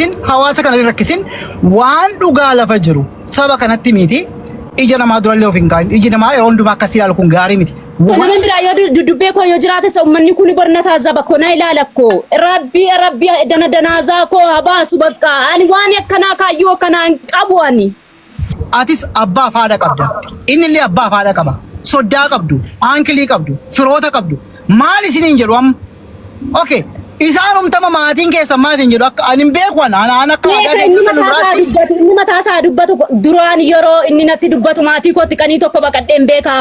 ittin hawaasa kana hin rakkisin waan dhugaa lafa jiru saba kanatti miti ija namaa durallee of hin kaa'in iji namaa yeroo hundumaa akkasii ilaalu kun gaarii miti. Namoonni biraa yoo dudubbee koo yoo jiraate sa uummanni kun borna taazaba koo na ilaala koo rabbi rabbi dana danaasaa koo habaasu bakka ani waan akkanaa kaayyoo akkanaa hin qabu ani. Atis abbaa fi haadha qabda. Innillee abbaa fi haadha qaba. Soddaa qabdu, aankilii qabdu, firoota qabdu. Maal isiniin jedhu amma? Okay. Isaanumtama maatiin keessan maal isin jedhu akka ani hin beeku ana ana ana akka aadaa Beeka inni beeksisa mataa isaa duraatti. dubbatu inni mataa isaa dubbatu duraan yeroo inni natti dubbatu maatii kootti qanii tokko baqadheen beekaa.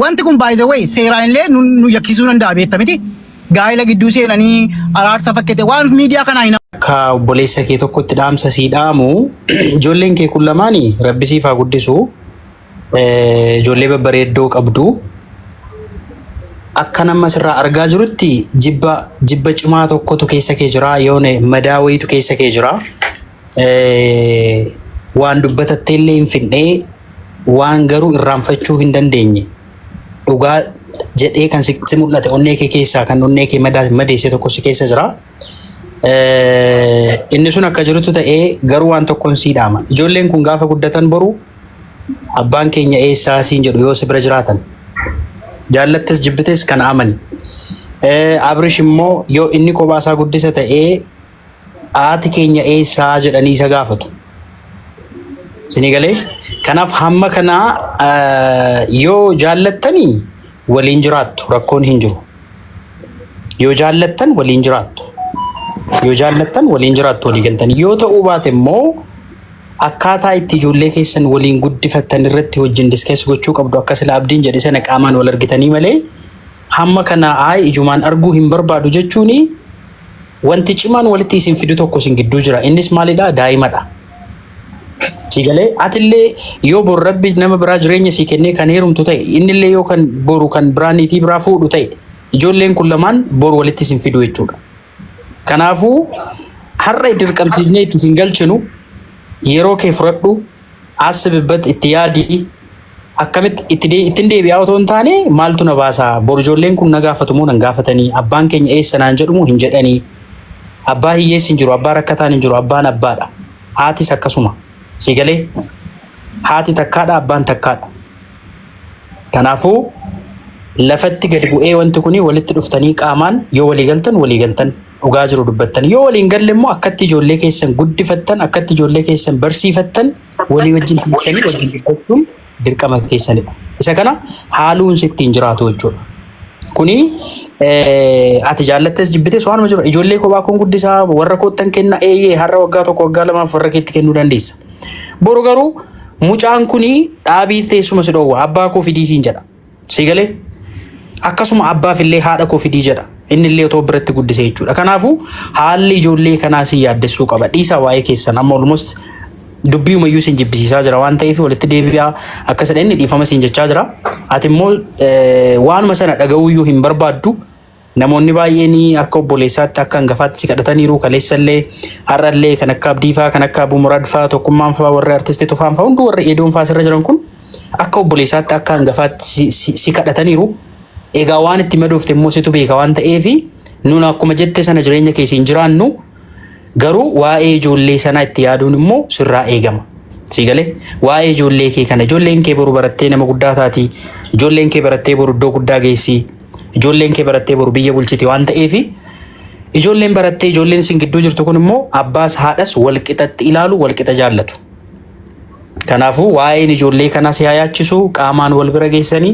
Wanti kun by the way seeraan illee nu nu yakkisuu danda'a beekta miti. Gaa'ela gidduu seenanii araarsa fakkete waan miidiyaa kanaa hin Akka obboleessa kee tokkotti dhaamsa sii dhaamu ijoolleen kee kun lamaani rabbi siif haa guddisu Eh, ijoollee babbareeddoo qabdu akka nama sirraa argaa jirutti jibba jibba cimaa tokkotu keessa kee jira yoone madaa wayiitu keessa kee jira waan dubbatattee illee hin fidhee waan garuu irraanfachuu hin dandeenye dhugaa jedhee kan sitti mul'ate onnee kee keessaa kan onnee kee madeesse tokko si keessa jira. Inni sun akka jirutu ta'ee garuu waan tokkoon sii dhaama. Ijoolleen kun gaafa guddatan boru abbaan keenya eessaa siin jedhu yoo si bira jiraatan. Jaallattis jibbites kan amani. Abrish immoo yoo inni kophaa isaa guddisa ta'ee haati keenya eessaa jedhanii isa gaafatu. Isinii galee? Kanaaf hamma kanaa eh, yoo jaallattanii waliin jiraattu rakkoon hin jiru. Yoo jaallattan waliin jiraattu. Yoo jaallattan waliin jiraattu walii galtanii. Yoo ta'uu baate immoo akkaataa itti ijoollee keessan waliin guddifattan irratti wajjin diskees gochuu qabdu akka sila abdiin jedhe sana qaamaan wal argitanii malee hamma kanaa ayi ijumaan arguu hin barbaadu jechuuni Wanti cimaan walitti isin fidu tokko isin gidduu jira. Innis maalidha? Daa'imadha. Sii galee? Atillee yoo bor Rabbi nama biraa jireenya sii kennee kan heerumtu ta'e, innillee yoo kan boru kan biraa niitii biraa fuudhu ta'e, ijoolleen kun lamaan bor walitti isin fidu jechuudha. Kanaafuu har'a dirqamsiisnee itti isin galchinu yeroo kee fudhadhu, Asbbat itti yaadi akkamitti itti dee- ittin deebi'aa otoo hin taane maaltu na baasa bor ijoolleen kun na gaafatu moo nan gaafatanii abbaan keenya eessa naan jedhu moo hin jedhanii abbaa hiyyeessi hin jiru abbaa rakkataan hin jiru abbaan abbaadha haatis akkasuma si galee haati takkaadha abbaan takkaadha kanaafuu lafatti gadi bu'ee wanti kun walitti dhuftanii qaamaan yoo walii galtan walii galtan dhugaa jiru dubbattan yoo waliin galle immoo akkatti ijoollee keessan guddifattan akkatti ijoollee keessan barsiifattan walii wajjin teessanii wajjin dubbachuun dirqama keessanidha. Isa kana haaluun sitti hin jiraatu jechuudha. Kuni eh, ati jaallattes jibbites waanuma jiru ijoollee kophaa kun guddisaa warra koottan kenna eeyyee har'a waggaa tokko waggaa lamaaf warra keetti kennuu dandeessa. Boru garuu mucaan kuni dhaabiif teessuma si dhoowwa abbaa koo fidii siin jedha. Sii galee? Akkasuma abbaaf illee haadha koo fidii jedha. Inni illee otoo biratti guddisee jechuudha. Kanaafuu haalli ijoollee kanaa si yaaddessuu qaba. Dhiisaa waa'ee keessan amma almost dubbii umayyuu sin jibbisiisaa jira waan ta'eef walitti deebi'aa akka sadheenni dhiifama sin jechaa jira. Ati immoo eh, waanuma sana dhaga'uuyyuu hin barbaaddu. Namoonni baay'een akka obboleessaatti akka hangafaatti si kadhataniiru kaleessallee har'allee kan akka Abdiifaa kan akka Abuu Muraad faa tokkummaan faa warri artisti tufaan faa hundi warri eedoon faa sirra jiran kun akka obboleessaatti akka hangafaatti si- si si kadhataniiru. Egaa waan itti madoofte immoo situ beeka waan ta'eef nuun akkuma jette sana jireenya keessa hin jiraannu Garuu waa'ee ijoollee sanaa itti yaaduun immoo sirraa eegama. Sii galee waa'ee ijoollee kee kana ijoolleen kee boru barattee nama guddaa taati. Ijoolleen kee barattee boru iddoo guddaa geessi. Ijoolleen kee barattee boru biyya bulchiti waan ta'eef ijoolleen barattee ijoolleen isin gidduu jirtu kun immoo abbaas haadhas walqixatti ilaalu walqixa jaallatu. Kanaafuu waa'een ijoollee kanaa si haa yaachisu qaamaan wal bira geessanii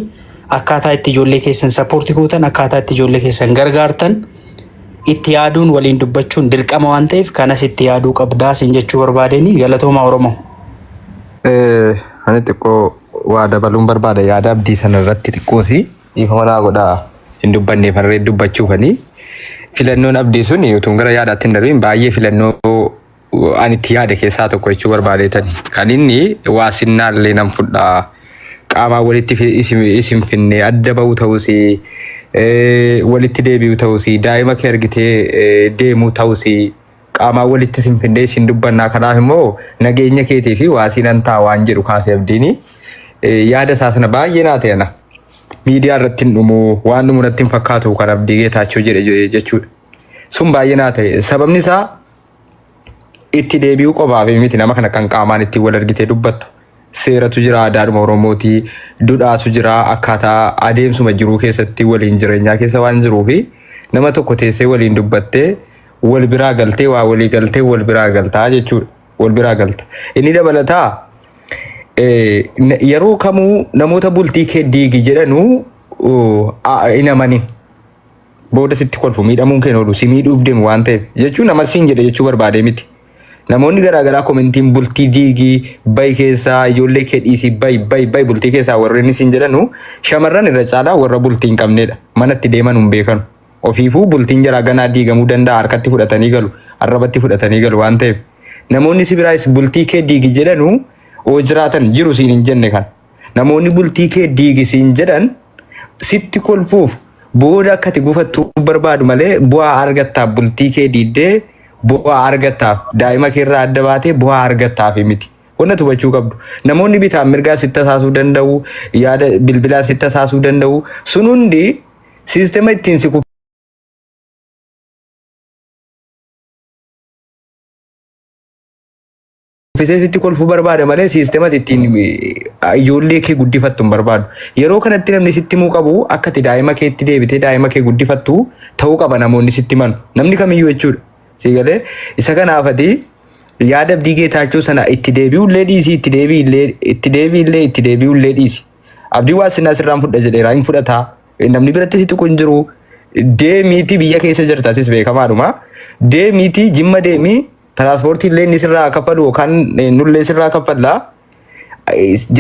akkaataa itti ijoollee keessan sappoorti gootan akkaataa itti ijoollee keessan gargaartan Itti yaaduun waliin dubbachuun dirqama waan ta'eef kanas itti yaaduu qabdaa siin jechuu barbaadeenii galatoomaa Oromoo. Eh, ani xiqqoo waa dabaluun barbaada yaada abdii sana irratti xiqqoosi dhiifama naa godha hin dubbanne farree dubbachuufani filannoon abdii sun utuun gara yaadaatti hin darbiin baay'ee filannoo ani itti yaade keessaa tokko jechuu barbaadeetan kan inni waa sinnaallee nan fudha qaamaan walitti fi- isin isin finne adda ba'uu ta'us eh, walitti deebi'u ta'us daa'ima kee argitee eh, deemuu ta'us qaamaan walitti isin finne isin dubbannaa kanaaf immoo nageenya keetii fi waa sinan ta'a waan jedhu kaasee abdiini Eh, yaada isaa sana baay'ee naa ta'e ana miidiyaa irratti hin dhumu waan dhumu irratti hin fakkaatu kan abdii geetaachoo jedhe je- jechuudha. sun baay'ee naa ta'e sababni isaa itti deebi'uu qofaaf miti nama kana kan qaamaan ittiin wal argitee dubbattu. Seeratu jira aadaadhuma Oromooti. Dudhaatu jira akkaataa adeemsuma jiruu keessatti waliin jireenyaa keessa waan jiruu fi nama tokko teessee waliin dubbattee wal biraa galtee waa walii galtee wal biraa galtaa jechuudha. Wal biraa galta. Inni dabalataa eh, n- yeroo kamuu namoota bultii kee diigi jedhanuu uh, a- hin amanin. Booda sitti kolfu miidhamuun keen oolu si miidhuuf deemu waan ta'eef jechuun nama siin jedhe jechuu barbaadee miti. Namoonni garaagaraa komentiin bultii diigii bayi keessaa ijoollee kee dhiisii bayi bayi bayi bultii keessaa warreen siin jedhanu shamarran irra caalaa warra bultii hin qabneedha. Mana itti deeman hin beekanu. Ofiifuu bultiin jaraa ganaa diigamuu danda'a harkatti fudhatanii galu arrabatti fudhatanii galu waan ta'eef. Namoonni si biraayis bultii kee diigi jedhanu oo jiraatan jiru siin hin jenne kan. Namoonni bultii kee diigi siin jedhan sitti kolfuuf booda akka ati gufattu barbaadu malee bu'aa argattaaf bultii kee diiddee bu'aa argattaaf daa'ima kee irraa adda baatee bu'aa argattaaf miti. Wanna hubachuu qabdu namoonni bitaan mirgaa sitti tasaasuu danda'u yaada bilbilaan sitti tasaasuu danda'u sun hundi siistema ittiin si uffisee sitti kolfuu barbaada malee siistemati ittiin eh, ijoollee kee guddifattu hin barbaadu. Yeroo kanatti namni sitti himuu qabu akka itti daa'ima keetti deebitee daa'ima kee guddifattu ta'uu qaba namoonni sitti himan. Namni kamiyyuu jechuudha. Sii galee isa kanaaf ati yaada abdii geetaachoo sana itti deebi'ullee dhiisi itti deebi'illee itti deebi'illee itti deebi'ullee dhiisi. Abdii waa sinaa sirraan fudha jedheera hin fudhataa. Namni biratti si tuqu hin jiru. Deemiitii biyya keessa jirta atis beekamaadhuma. Deemiitii jimma deemii Tiraaspoortii illee inni sirraa kaffalu yookaan nullee sirraa kaffalla.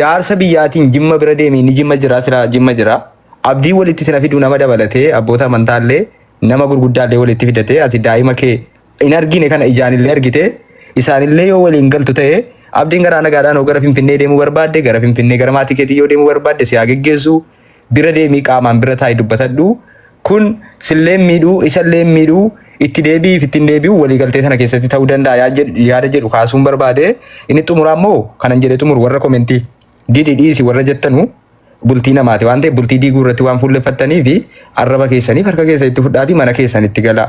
Jaarsa biyyaatiin jimma bira deemee ni jimma jira sira jimma jira. Abdii walitti sina fiduu nama dabalatee abboota amantaa illee nama gurguddaa illee walitti fidatee ati daa'ima kee hin argine kana ijaan illee argite isaan illee yoo waliin galtu ta'e abdiin garaa nagaadhaan yoo gara finfinnee deemuu barbaadde gara finfinnee gara maatii keetii yoo deemuu barbaadde si haa geggeessu Bira deemii qaamaan bira taa'i dubbatadhu. Kun silleen miidhuu isallee miidhuu itti deebi'iif ittiin deebi'u waliigaltee sana keessatti ta'uu danda'a yaa jedhu- yaada jedhu kaasuun barbaade inni xumuraa immoo kanan jedhee xumuru warra komentii didi dhiisi warra jettanu bultii namaati waan ta'eef bultii diiguu irratti waan fuulleffattanii fi arraba keessaniif harka keessa itti fudhaatii mana keessan itti galaa.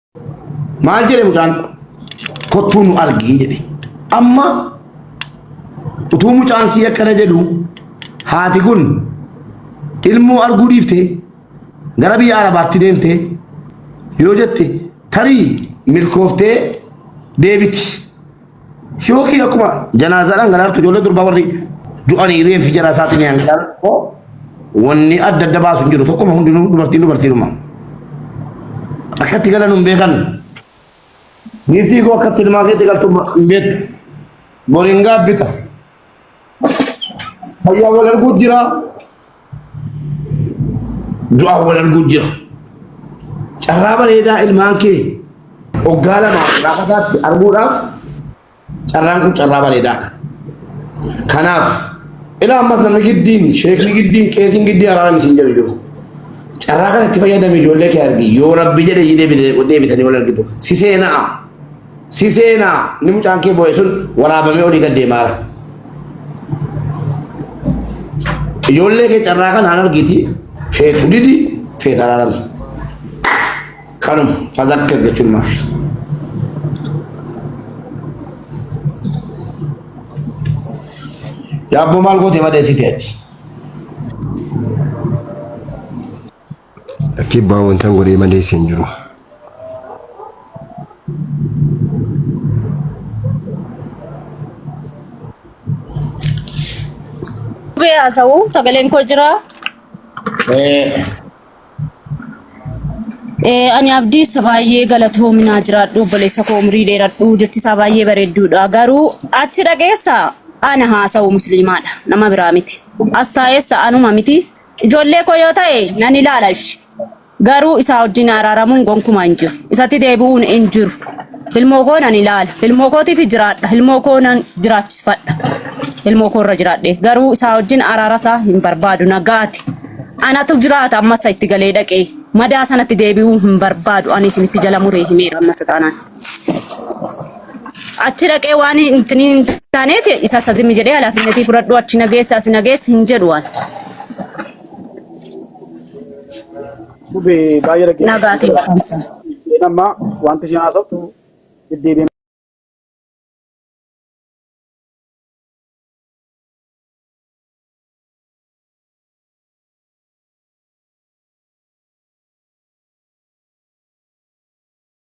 Maal jedhe mucaan kottuu nu argii jedhe. Amma utuu mucaan sii akkana jedhu haati kun ilmoo arguu dhiifte gara biyya arabaatti deemte yoo jette tarii milkooftee deebiti. Yookiin akkuma janaazaadhaan galaartu ijoollee durbaa warri du'anii reeffi jara isaatiin yaan galaartu wanni adda adda baasu hin jiru tokkuma hundinuu dubartiin dubartiidhuma. Akkatti galan hin beekan. Niitii koo akkatti ilmaa keetti galtu hin beektu. Boriin gaabbita. Fayyaa wal arguu jira. Du'aa wal arguu jira. Carraa bareedaa ilmaan kee waggaa lama laafataatti arguudhaaf carraan kun carraa bareedaadha. Kanaaf ilaa ammas namni giddiin sheekni giddiin qeesiin giddii araaraan isin jedhu jiru. Carraa kanatti fayyadame ijoollee kee argi yoo rabbi jedhe deebitanii wal argitu si seena'a. Si seena ni mucaan kee boo'e sun waraabamee olii gad deemaara. Ijoollee kee carraa kan haan argiti feetu didi feeta araarame. Kanuma fazakkir jechuun maafi. Yaabboo maal gootee madeessite ati? Lakkii abbaa wantan godhee malee si hin jiru. Dhufee haasa'u sagaleen koo jira. Eh, ani abdiisa baay'ee galatoominaa jiraadhu obboleessa koo umrii dheeradhu jechi isaa baay'ee bareedduudha garuu achi dhageessa ana haasa'u musliimaadha nama biraa miti as taa'eessa anuma miti Ijoollee koo yoo ta'e nan ilaala ishi. Garuu isaa wajjin araaramuun gonkumaa hin jiru. Isatti deebi'uun hin jiru. Ilmoo koo nan ilaala. Ilmoo kootiif jiraadha. Ilmoo koo nan jiraachisfadha. Ilmoo koo irra jiraadhe. Garuu isaa wajjin araara isaa hin barbaadu. Nagaati. Anatu jiraata amma isa itti galee dhaqee. Madaa sanatti deebi'uu hin barbaadu. Ani isinitti jala muree himeera amma isa taanaan. achi dhaqee waan intini hin taaneef isa isa zimmi jedhee halaafinnetii fudhadhu achi nageessa asi nageessa hin jedhu waan Dube baay'ee dhaggeeffatu. nagaa kee barumsa. Isheen amma wanti isheen haasoftu deddeebiin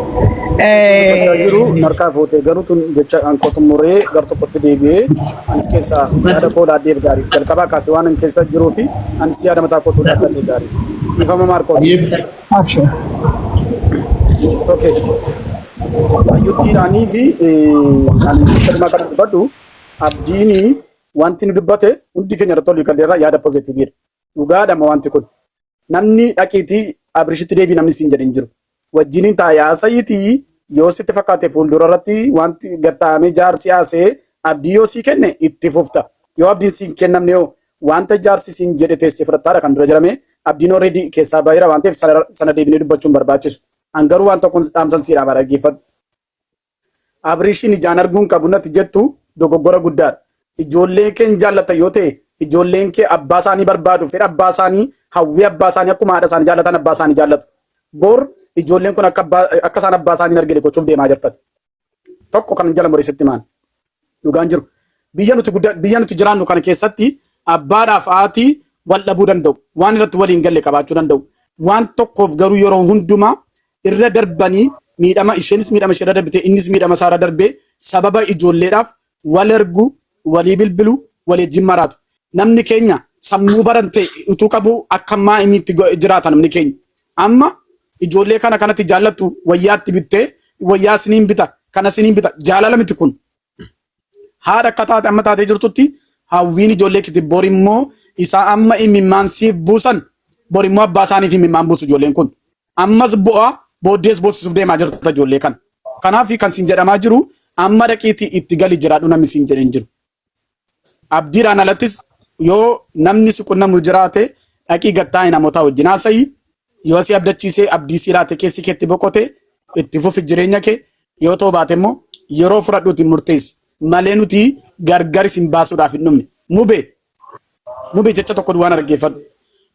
Dubbachaa jiru narkaa fuute garuu tun jecha kan koo xumuree gar tokkotti deebi'ee anis keessaa yaada koo laaddeef gaarii jalqabaa kaasee waan hin keessa jiruu fi anis yaada mataa kootu laaddeef gaarii dhiifama maarkoos. Abshir. Okay. Ayyutti ani fi kan dhimma kana dubbadhu abdiini wanti nu dubbate hundi keenya irratti olii galleerra yaada pozitiiviidha. Dhugaadhama wanti kun. Namni dhaqiitii Abrishitti deebii namni siin jedhin jiru. Wajjiniin taa'ee haasa'iitii yoo sitti fakkaate fuuldura irratti wanti gad taa'amee jaarsi haasee abdii yoo sii kenne itti fufta. Yoo abdiin siin kennamne hoo wanta jaarsi siin jedhe teessee fudhattaadha kan dura jedhame abdiin already keessaa baheera waan ta'eef sana deebinee dubbachuun barbaachisu. An garuu waan tokkon dhaamsan siidha baadhaggeeffadhu. Abriishiin ijaan arguu hin qabu natti jettu dogoggora guddaadha. Ijoollee kee hin jaallatta yoo ta'e, ijoolleen kee abbaa isaanii barbaadu, fedha abbaa isaanii, hawwii abbaa isaanii akkuma haadha isaanii jaallatan abbaa isaanii jaallatu. Bor ijoolleen kun akka isaan abbaa isaanii hin argine gochuuf deemaa jirta ati. Tokko kanan jala mure sitti himaan. Dhugaan jiru biyya nuti gudda biyya nuti jiraannu kana keessatti abbaadhaaf haati wal dhabuu danda'u. Waan irratti waliin galle qabaachuu danda'u. Waan tokkoof garuu yeroo hundumaa irra darbanii miidhama isheenis miidhama ishee irra darbitee innis miidhama isaa irra darbee sababa ijoolleedhaaf wal ergu, walii bilbilu, walii wajjin maraatu. Namni keenya sammuu barate utuu qabu akka ammaa inni itti go- jiraata namni keenya. Amma ijoollee kana kanatti jaallattu wayyaatti bittee wayyaa siniin bita kana siniin bita jaalala miti kun. Haadha akka taate amma taatee jirtutti hawwiin ijoollee kiti bor immoo isaa amma imimmaan siif buusan bor immoo abbaa isaaniif imimmaan buusu ijoolleen kun. Ammas bu'aa booddees boossisuuf deemaa jirta ijoollee kana. Kanaaf kan siin jedhamaa jiru amma dhaqiitii itti gali jiraadhu namni siin jedheen jiru. Abdiidhaan alattis yoo namni si qunnamu jiraate dhaqii gattaa'e namootaa wajjin haasa'i. Yoo si abdachiisee abdii si laate keessi keetti boqote itti fufi jireenya kee. Yoo ta'uu baate immoo yeroo fudhadhuuti murteessi. Malee nuti gargar isin baasuudhaaf hin dhumne. Mube! Mube jecha tokko duwwaan dhaggeeffadhu.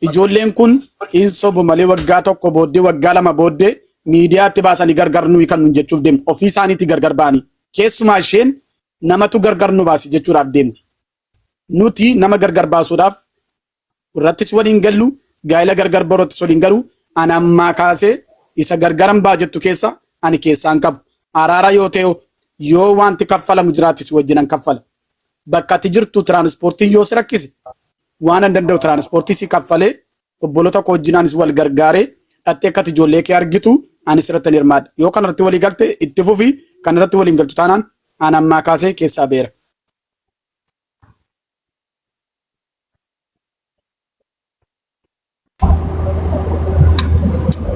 Ijoolleen kun hin sobu malee waggaa tokko booddee waggaa lama booddee miidiyaatti baasanii gargar nuyi kan nun jechuuf deemu. Ofii isaaniitii gargar ba'anii. Keessumaa isheen namatu gargar nu baase jechuudhaaf deemti. Nuti nama gargar baasuudhaaf irrattis waliin gallu, gaa'ila gargar barootti soliin garuu ani ammaa kaasee isa gargaran ba'a jettu keessa ani keessaan qabu. Araara yoo ta'e yoo wanti kaffalamu jiraate si wajjinan kaffala. Bakka ati jirtu tiraanispoortiin yoo si rakkise waan an danda'u tiraanispoortii si kaffalee Obboloota koo wajjin anis wal gargaaree dhattee akkati ijoollee kee argitu anis irratti hirmaadha. Yoo kana irratti walii galte itti fufi kana irratti waliin galtu taanaan aan ammaa kaasee keessaa beera.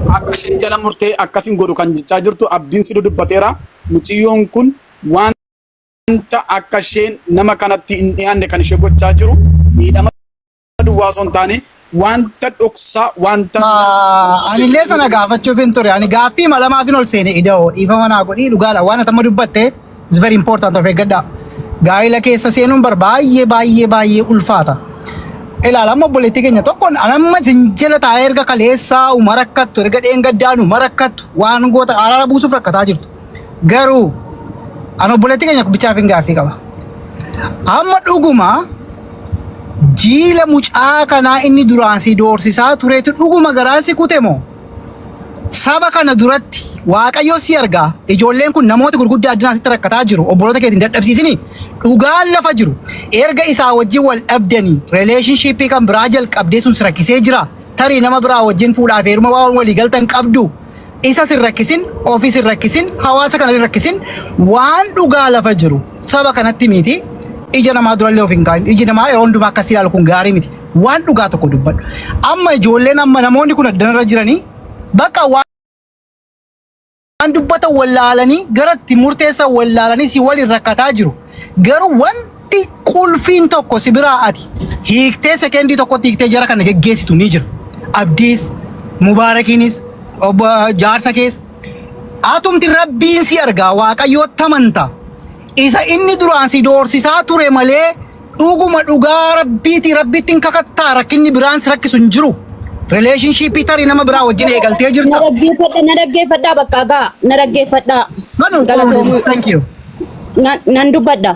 Akka isheen jala murtee akkasin godhu kan jechaa jirtu abdiin siduu dubbateera. Muciyyoon kun wanta akka isheen nama kanatti hin dhiyaanne kan ishee gochaa jiru miidhama duwwaa osoo hin taane wanta dhoksaa wanta Anillee sana gaafachuuf hin ture. Ani gaaffii malamaa bin ol seene ida'oo dhiifama naa godhii dhugaadha. Waan atama dubbatte is very important of eeggadha. Gaa'ila keessa seenuun bar baay'ee baay'ee baay'ee ulfaata. Ilaala amma obboleettii keenya tokkoon anamma isin jala taa'ee erga kaleessaa uma rakkattu erga dheengaddaanu uma rakkattu waan goota araara buusuuf rakkataa jirtu. Garuu an obboleettii keenya bichaaf hin gaaffii qaba. Amma dhuguma jiila mucaa kanaa inni duraan si doorsisaa turetu dhuguma garaan si kute moo? Saba kana duratti waaqayyo si argaa ijoolleen kun namoota gurguddaa addunyaa sitti rakkataa jiru obboloota keetiin dadhabsiisini dhugaan lafa jiru erga isaa wajjin wal dhabdanii relationshipii kan biraa jalqabdee sun si rakkisee jira tarii nama biraa wajjin fuudhaa fi heeruma waan walii galtan qabdu isas hin rakkisin, ofis hin rakkisin, hawaasa kana hin rakkisin. Waan dhugaa lafa jiru saba kanatti miti. Ija namaa durallee of hin kaa'in. Iji namaa yeroo hundumaa akkasii ilaalu kun gaarii miti. Waan dhugaa tokko dubbadhu. Amma ijoolleen amma namoonni kun addanarra jiranii bakka waan waan dubbatan wallaalanii gara itti murteessan wallaalanii si waliin rakkataa jiru. Garuu waan Wanti qulfiin tokko si biraa ati hiiktee sekendii tokkotti hiiktee jara kana geggeessitu ni jira. Abdiis, Mubaarakiinis, obbo jaarsa kees atumti rabbiin si argaa waaqayyoo tamanta isa inni duraan si doorsisaa ture malee dhuguma dhugaa rabbiiti rabbitti hin kakattaa rakkinni biraan si rakkisu hin jiru. Relationshipii tarii nama biraa wajjin eegaltee Na jirta. dhaggeeffadha, na dhaggeeffadha bakka gaa, na dhaggeeffadha. Kanuma Galatoomi. Thank you. Na- Nan dubbadha.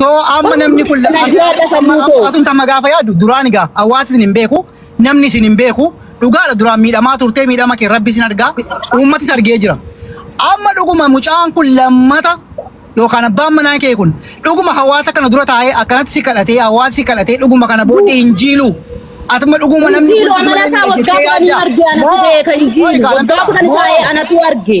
So amma namni kun Kana jiraadha sammuu koo. atun tamma gaafa yaadu duraan egaa hawaasi isin hin beeku namni isin hin beeku dhugaadha duraan miidhamaa turtee miidhama kee rabbi isin argaa uummatis argee jira. Amma dhuguma mucaan kun lammata yookaan abbaan manaa kee kun dhuguma hawaasa kana dura taa'ee akkanatti si kadhatee hawaasi si kadhatee dhuguma kana booddee hin jiilu. Atuma dhuguma namni Injiiloo kun amala isaa waggaa kudhanii arge anatu beeka injiiloo. Waggaa kudhanii taa'ee anatu arge.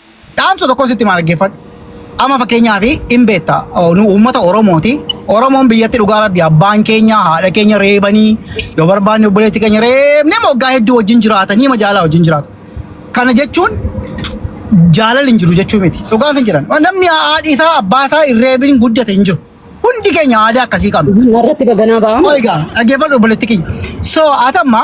Dhaamsa tokkon sitti himaa dhaggeeffadhu. Amma fakkeenyaaf hin beekta nu uummata Oromooti. Oromoon biyyatti dhugaa rabbi abbaan keenya haadha keenya reebanii yoo barbaanne obboleetti keenya reebnee moggaa hedduu wajjin jiraatanii ma jaalaa wajjin jiraatu. Kana jechuun jaalala hin jiru jechuu miti. Dhugaan hin jiran. Namni haadhi isaa abbaa isaa hin reebin guddate hin jiru. Hundi keenya aadaa akkasii qabna. Narratti baganaa ba'amu. Qoy egaa dhaggeeffadhu obboleetti kiyya. So atamma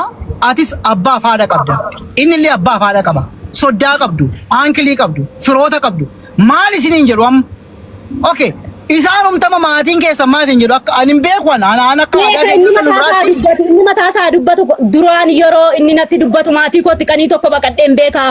atis abbaa fi haadha qabda. Inni illee abbaa fi haadha qaba. Soddaa qabdu, aankilii qabdu, firoota qabdu. Maal isiniin jedhu amma? Okay. Isaan humtama maatiin keessan maal isin jedhu akka ani hin beeku ana ana ana akka aadaa Beeka inni keessan mataa isaa biraatti. dubbatu inni mataa isaa dubbatu duraan yeroo inni natti dubbatu maatii kootti qanii tokko baqadheen beekaa.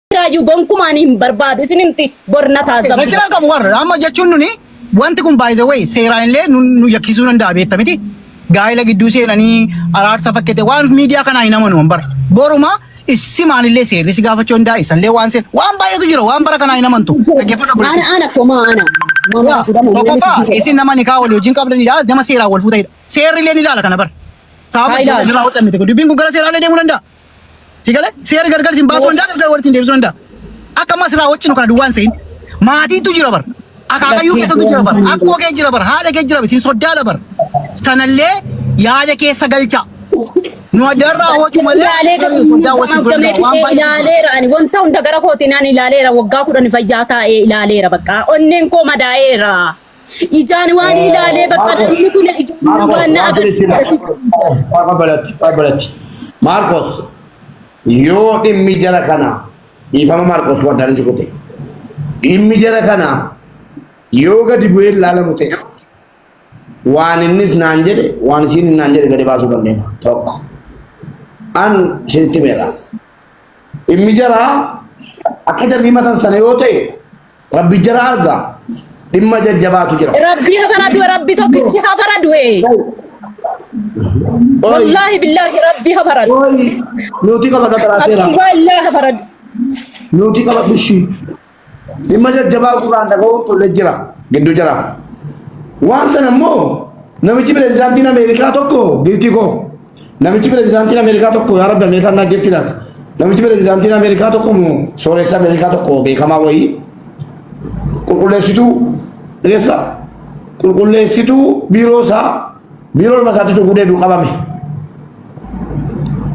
Raayyuu gonkumaan hin barbaadu isin himti borna taasisa. Rakkina qabu warra amma jechuun nuni wanti kun by the way seeraan illee nu nu yakkisuu danda'a beekta miti. Gaa'ela gidduu seenanii araarsa fakkate waan miidiyaa kanaa hin amanu bara. Boruma issimaan illee seerri si gaafachuu danda'a isallee waan seer waan baay'eetu jira waan bara kanaa hin amantu. Dhaggeeffadhu Ana obboleettii. ana koma ana. Mama Waa, fuudhamu nama Tokkoffaa miti. isin nama nikaa walii wajjin qabdanidha nama seeraan wal fuutanidha. Seerri illee ni ilaala kana bara. Sababa Haa ilaalu. irraa hojjannite dubbiin kun gara seeraa illee deemuu danda'a. Si galee seera gargar sin baasuu danda'a gargar walitti sin deebisuu danda'a. Akka ammaa sirraa wajjin kana duwwaan se'in. Maatiitu jira bara. Akaakayyuu keessatu jira bara. Akkoo kee jira bara. Haadha kee jira bara. Sin soddaala bara. Sanallee yaada keessa galchaa. Nu addarraa hojii malee ilaalee gara garuu soddaa wajjin ture danda'a. Waan baay'ee ilaaleera ani wanta hunda gara kootiin ani ilaaleera waggaa kudhan fayyaa taa'ee ilaaleera bakka onneen koo madaa'eera. Ijaan waan ilaalee bakka namni kun ijaan waan Marcos, na waan sinitti hima. agarsiisa. Faqa balatti, faqa balatti. Marcos, yoo dhimmi jara kana, dhiifama Marcos waan daandii godhe. Dhimmi jara kana yoo gadi bu'ee ilaalamu ta'e, waan innis naan jedhe, waan isiin naan jedhe gadi baasuu dandeenya. Tokko. An isinitti himeera. Dhimmi jara akka jarri himatan sana yoo ta'e, Rabbi jara arga. Dhimma jajjabaatu jira. Rabbi ha faradu rabbi tokkichi ha faradu ee. Oi, Wallahi billahi rabbi ha faradu. oi, nuti qaba dhaqaraa Abdul seeraa. wallahi ha faradu. Nuti qaba bishii. Dhimma jajjabaa gurraan dhaga'uun tolle jira. Gidduu jira. Waan sana immoo namichi pirezidaantiin Ameerikaa tokko giiftii koo. Namichi pirezidaantiin Ameerikaa tokko yaa rabbi Ameerikaan naa jirti laata. Namichi pirezidaantiin Ameerikaa tokko moo sooressa Ameerikaa tokko beekamaa wayii qulqulleessituu eessa qulqulleessituu biiroo isaa biiroo ilma isaatti dhuguu deebi'u qabame.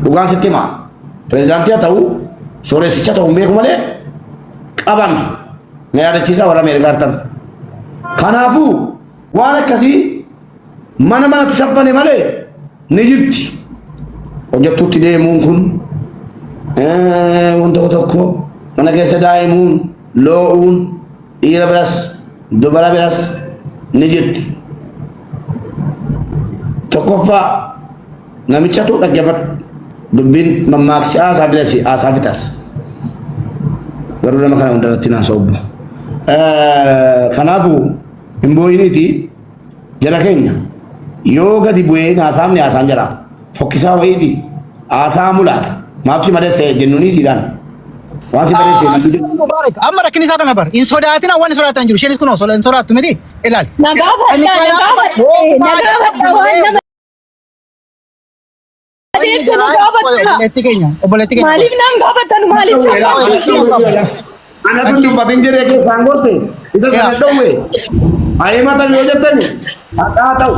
Dhugaan sitti himaa pirezidaantii haa ta'u sooressicha ta'u hin beeku malee qabame. Na yaadachiisaa warra Ameerikaa artan. Kanaafuu waan akkasii Mana manatti saffane malee ni jirti. Hojjattuutti deemuun kun wanta tokko mana keessa daa'imuun loo'uun dhiira biras dubara biras ni jirti. Tokkoffaa namichatu dhaggeeffadhu dubbiin mammaaksi haasaa fidasi haasaa fitas. Garuu nama kana hundarratti naasa obbo. Kanaafuu hin boo'iniitii. Jala keenya yoo gadi bu'ee haasaamni haasaan jala fokkisaa wayiiti haasaa mulaata maabsi madessee jennuunii siidhaan waan si baressee maddu jedhu. Mubarak, amma rakkinni isaa kana bar. Hin sodaatina waan sodaatan jiru. Isheenis kunoo soda- hin sodaattu miti. Ilaali. Na gaafadha, na gaafadha, na gaafadha waan nama Obboleetti keenya. Obboleetti keenya. Maaliif naan gaafattan maaliif shakkootu? Ana tun dubbatin jedhee keessaan gorte isa sana dhowwe ayimata yoo jettani hadhaa ta'u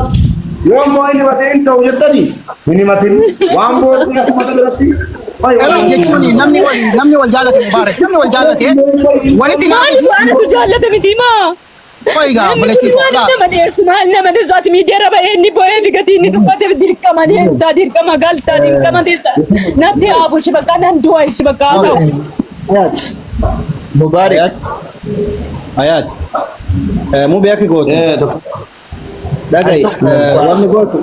yoo immoo inni batee hin ta'u jettani hin himatin waan booddee akkuma biratti Garuu jechuun namni wal namni wal jaallate mubaarak namni wal jaallate walitti Maaliif naafatu. anatu jaallata miti maa? Qoy gaa Namni obboleettii koo maaliif laal. nama dhiyeessu? Maal nama dhiyeessu? As miidiyaarra bahee inni boo'ee fi gatii inni dubbateef dirqama deemtaa, dirqama galtaa, dirqama teessa. Natti haabu ishi bakka nan du'a ishi bakka haa ta'u. Ayat. Mubarak. Ayat. Ayat. Eh, Mubee akki goote. Eh, dok- Dhaga'i. Eh, Wanni gootu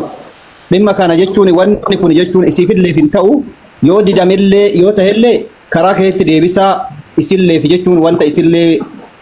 dhimma kana jechuun wanni kun jechuun isiifillee hin ta'u yoo didamillee yoo ta'ellee karaa keetti deebisaa isillee fi jechuun wanta isillee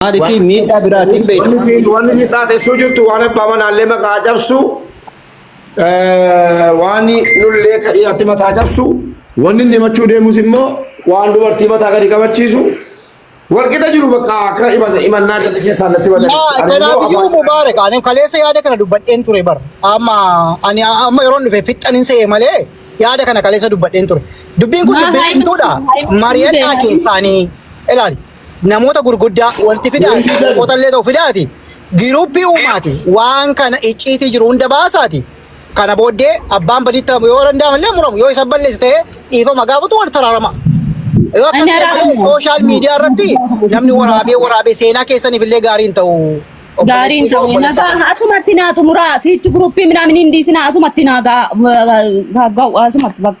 Maaliif miidhaa biraatiin beektu? Wanni siin wanni si taatessuu jirtu waan abbaa manaallee maqaa cabsu waan nullee ka dhiyaatti mataa cabsu wanni inni himachuu deemus immoo waan dubartii mataa gadi qabachiisu walqixa jiru bakka akka himannaa gadi keessaa natti badan. Kanaafuu Mubaarak ani kaleessa yaada kana dubbadheen ture bara. Amma ani amma yeroon dhufe fixxan hin se'e malee yaada kana kaleessa dubbadheen ture. Dubbiin kun dubbii cimtuudha. Mari'adhaa keessaanii ilaali. namoota gurguddaa walitti fidaa qotallee ta'u fidaati giruuppii uumaati waan kana icciitii jiru hunda baasaati kana booddee abbaan badii ta'u yoo danda'ame illee muramu yoo isa balleesse ta'ee dhiifama gaafatu wal taraarama. Yoo akkas ta'e malee sooshaal miidiyaa irratti namni waraabee waraabee seenaa keessaniif illee gaarii hin ta'u. Gaarii hin ta'u. Nagaa asumatti naa xumuraa siichi giruuppii minaamin hin dhiisinaa asumatti naa gaa asumatti bakka.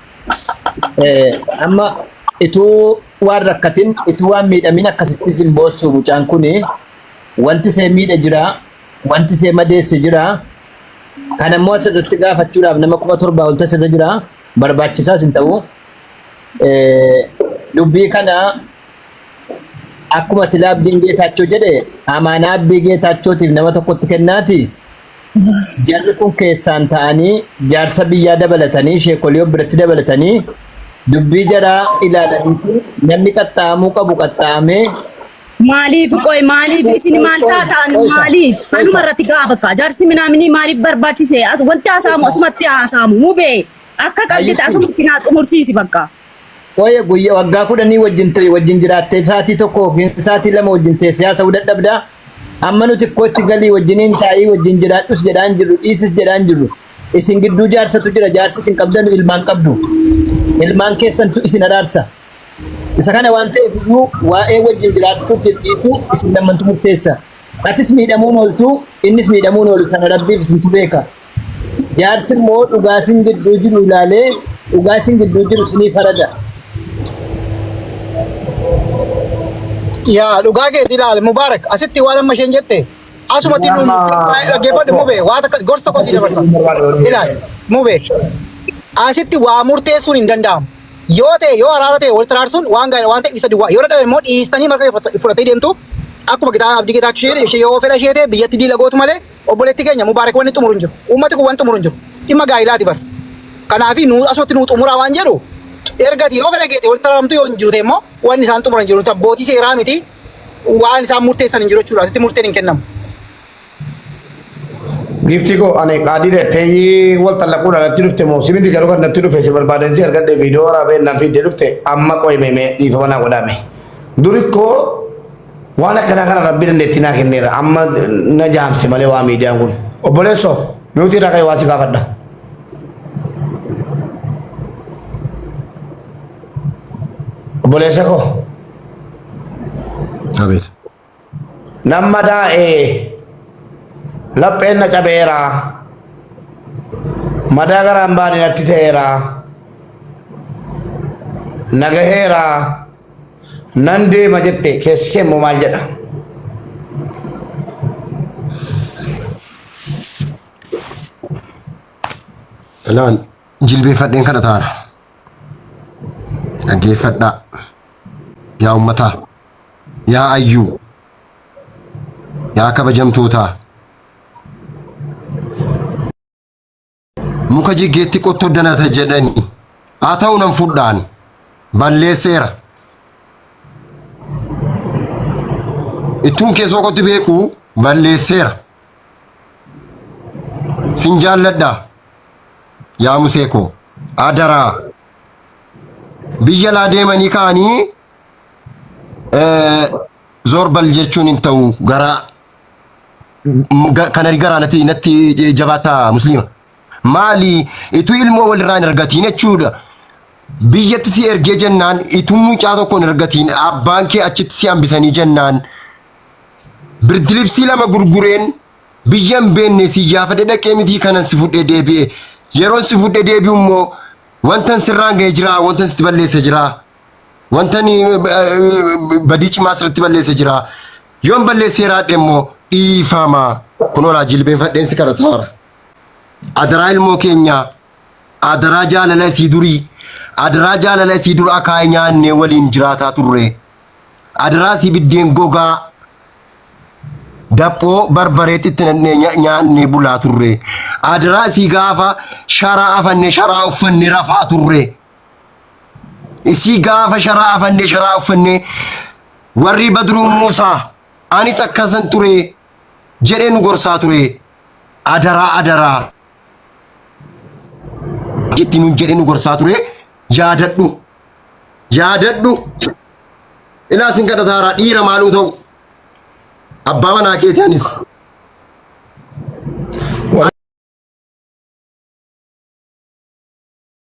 Amma ituu waan rakkatin ituu waan miidhamin akkasittis hin boossu mucaan kun wanti see miidhe jira wanti see madeesse jira kan ammoo asirratti gaafachuudhaaf nama kuma torbaa ol tasirra jira barbaachisaas hin ta'u dubbii kana akkuma silaa abdiin geetaachoo jedhe amaanaa abdii geetaachootiif nama tokkotti kennaati. Jarri kun keessaan ta'anii jaarsa biyyaa dabalatanii sheekolii of biratti dabalatanii dubbii jaraa ilaalaniitu namni qaxxaa'amuu qabu qaxxaa'amee Maaliif qoy maaliif isin maal taataan maaliif anuma irratti ga'a bakka jaarsi minaaminii maaliif barbaachise as wanti haasaamu asumatti haasaamu mubee akka qabdite asumatti naa xumursiisi bakka. Qoye guyya waggaa kudhanii wajjin turi wajjin jiraattee saatii tokko yookiin saatii lama wajjin teessee haasa'uu dadhabda. Amma nuti xiqqootti galii wajjiniin taa'ii wajjin jiraadhus jedhaan jirru dhiisis jedhaan jirru. Isin gidduu jaarsatu jira jaarsa isin qabdanu ilmaan qabdu. Ilmaan keessantu isin araarsa. Isa kana waan ta'eef iyyuu waa'ee wajjin jiraachuutiif dhiisuu isin lammantu murteessa. Atis miidhamuun ooltu innis miidhamuun oolu sana rabbiif isintu beeka. Jaarsi immoo dhugaa isin gidduu jiru ilaalee dhugaa isin gidduu jiru isinii farada. Yaa dhugaa keetii ilaali Mubaarak asitti waan amma isheen jette asumatti Yaa nu maa- dhaggeeffadhu mubee waa takka gorsa tokko sii dabarsa ilaali mubee asitti waa murteessuun hin danda'amu yoo ta'e yoo araara ta'e walitti araarsuun waan gaariidha waan ta'e isa duwwaa yoo dadhabe immoo dhiistanii marga fudhatee deemtu akkuma gitaa abdii gitaachuu ishee ishee yoo fedha ishee ta'e biyyatti diila gootu malee Obboleetti keenya Mubaarek wanni xumuru hin jiru. Uummati kun wan xumuru hin jiru. Dhimma gaa'ilaati bar. Kanaafi nuu asutti nuu xumuraa waan jedhu erga ati yoo fedha keeti walitti araramtu yoo hin jiru ta'e immoo wanni isaan xumuran hin jiru. Nuti abbootii seeraa miti waan isaan murteessan hin jiru jechuudha. Asitti murteen hin kennamu. Giiftii koo ani qaadii dheettee wal tallaquudha natti dhufte moo si miti garuu kan natti dhufe si barbaadan si argadhe viidiyoo waraabee naan fiidee dhufte amma qo'imee mee dhiifama naa godhaame. Duri koo Waan akkanaa kana rabbi dandeettii naa kenneera amma na jaamse malee waa miidiyaan kun obboleessoo miutii irraa ka'e waa si gaafadha. Obboleessa koo Abeet. nama daa'ee lapheen na cabeera madaa garaan baane natti ta'eera nagaheera Nan deema jette keessi kee immoo maal jedha? Elaan jilbeeffadheen kana taana. Dhaggeeffadhaa. Yaa ummataa. Yaa ayyuu. Yaa kabajamtootaa. muka jiggeetti qottoo danata jedhani haa ta'u nan fudhaan balleesseera ittuun keessoo qotti beeku balleesseera sin jaalladha yaa musee koo adaraa biyya laa deemanii ka'anii eh, zorbal jechuun hin ta'u garaa kana garaa natti natti jabaataa musliima. Maali ituu ilmoo walirraa hin argatiin jechuudha. Biyyatti si ergee jennaan ituu mucaa tokko hin argatiin abbaan kee achitti si hambisanii jennaan. Birdilibsii lama gurgureen biyya hin beenne si yaafadhe dhaqee mitii kanan si fudhee deebi'e. Yeroon si fudhee deebi'u immoo wantan sirraan ga'ee jira wantan sitti balleessa jira. Wantan badii cimaa asirratti balleesse jira. Yoon balleessee jiraadhe immoo dhiifama. Kun olaa jilbeenfadheensi kana taara. Adaraa ilmoo keenyaa. Adaraa jaalala isii durii. Adaraa jaalala isii dura akaayii nyaannee waliin jiraataa turre. Adaraa isii biddeen gogaa daphoo barbareetti itti nannee nyaannee bulaa turre. Adaraa isii gaafa sharaa afannee sharaa uffannee rafaa turre. isii gaafa sharaa afannee sharaa uffannee warri badruu muusaa anis akkasan ture jedhee nu gorsaa ture adaraa adaraa itti nun jedhee nu gorsaa ture yaadadhu yaadadhu ilaa sin kadhataaraa dhiira maaluu ta'u abbaa manaa keeti anis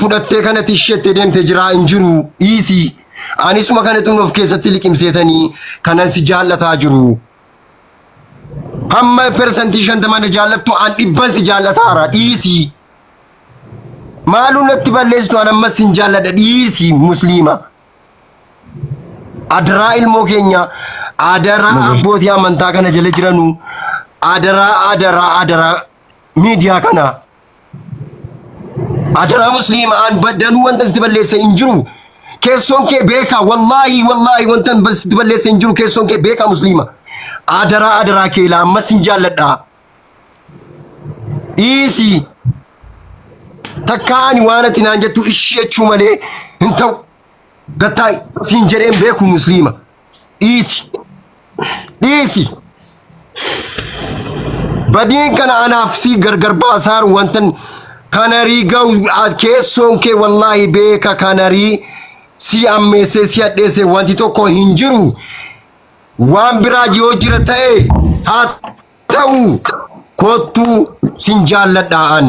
fudhattee kanatti isheetti deemte jiraa hin jiru dhiisii anisuma kanatti of keessatti liqimseetanii kanan si jaallataa jiru hamma persantii shantamaa na jaallattu an dhibban si jaallataara dhiisii maaluu natti balleessitu an ammas sin jaalladha dhiisii musliima adaraa ilmoo keenya adaraa abbootii amantaa kana jala jiranu adaraa adaraa adaraa miidiyaa kana Ajaraa musliima aan baddanuu wanta sitti balleesse hin jiru. Keessoon kee beekaa wallaahi wallaahi wanta sitti balleesse hin jiru keessoon kee beekaa musliima. Adaraa adaraa kee laa ammas hin jaalladhaa. Dhiisi. Takkaa ani waan ati naan jettu ishii jechuu malee hin ta'u. Gattaa siin jedheen beeku musliima. dhiisi dhiisi badiin kana anaaf si gargar baasaan wantan kanarii ga'u a- keessoon kee wallaahi beeka kanarii si ammeessee si hadheesse wanti tokko hin jiru waan biraa yoo jira ta'e haa ta'u kottuu sin jaalladha an.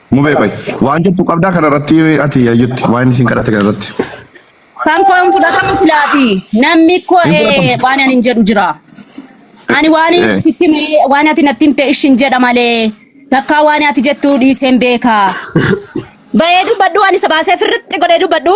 Mubee qoy. Waan jettu qabdaa kana irratti ati yaayyutti waan isin kadhate kana irratti. Kan koo hin fudhatamu filaafi. Namni koo Hin fudhatamu. ee, waan ani hin jedhu jira. Ani waan Eh. sitti himee- waan ati natti himte ishin jedha malee takkaa waan ati jettu dhiiseen beeka. Bayee dubbadhu ani sabaasee firritti godhee dubbadhu.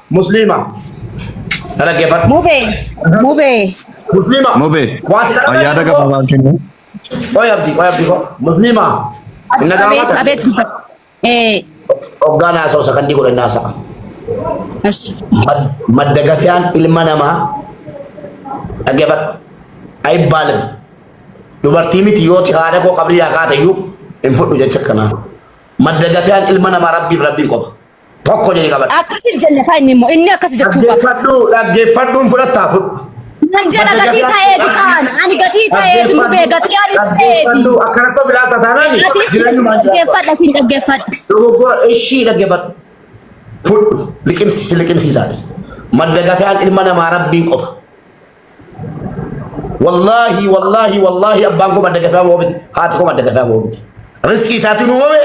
Musliima. Na dhaggeeffadhu. Mubee. Mubee. Musliima. Mubee. Waan si kadhatan Ayyaada immoo- gabaabaan kennu. Qoy abdi, qoy abdi koo. Musliima. Inna Abeet gaafata. abeet gudda. Ee. Hoggaan haasa'u sakandii godhan haasa'a. Ash. Mad- Madda gafiyaan ilma namaa dhaggeeffadhu. Ayibbaalim. Dubartii miti yoo ti haadha koo qabrii haa kaatayyuu hin fudhu jecha kanaa. Madda gafiyaan ilma namaa rabbiif rabbiin qofa. Tokko jedhee qabadhu. Akkasiif jenne kaa inni immoo inni akkas jechuu qaba. Dhaggeeffadhu dhaggeeffadhuun fudhattaa fudhu. Nan jedha gatii ta'eefi kaan ani gatii ta'eefi mubee gatii ani ta'eefi. Akkanatti of ilaalta taanaan dhaggeeffadha siin dhaggeeffadha. Dogoggora ishii dhaggeeffadhu. Fudhu liqimsi si liqimsiisaati. Madda gafaan ilma namaa rabbiin qofa. Wallaahi wallaahi wallaahi abbaan koo madda gafaa moomiti haati koo madda gafaa moomiti. Riskii isaatiin uumame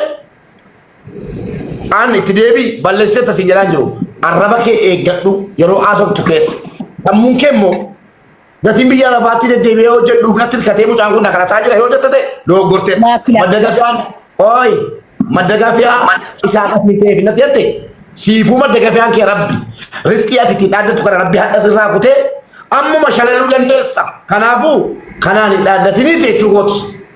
An itti deebii balleessee tasiin jedhaan jiru. Arraba kee eeggadhu yeroo haasoftu keessa. Sammuun kee immoo gatiin biyya lafaatti deddeebi'ee hojjedhuuf natti hirkatee mucaan kun na kadhataa jira yoo jette ta'e dogoggortee Laakki, laakki. madda gafiyaan ooyi madda gafiyaa isaa qasni ta'eef natti jette siifuu madda gafiyaan kee rabbi riskii ati ittiin dhaaddatu kana rabbi hadha sirraa kutee ammuma shalaluu dandeessa kanaafuu kanaan hin dhaaddatinii jechuu kooti.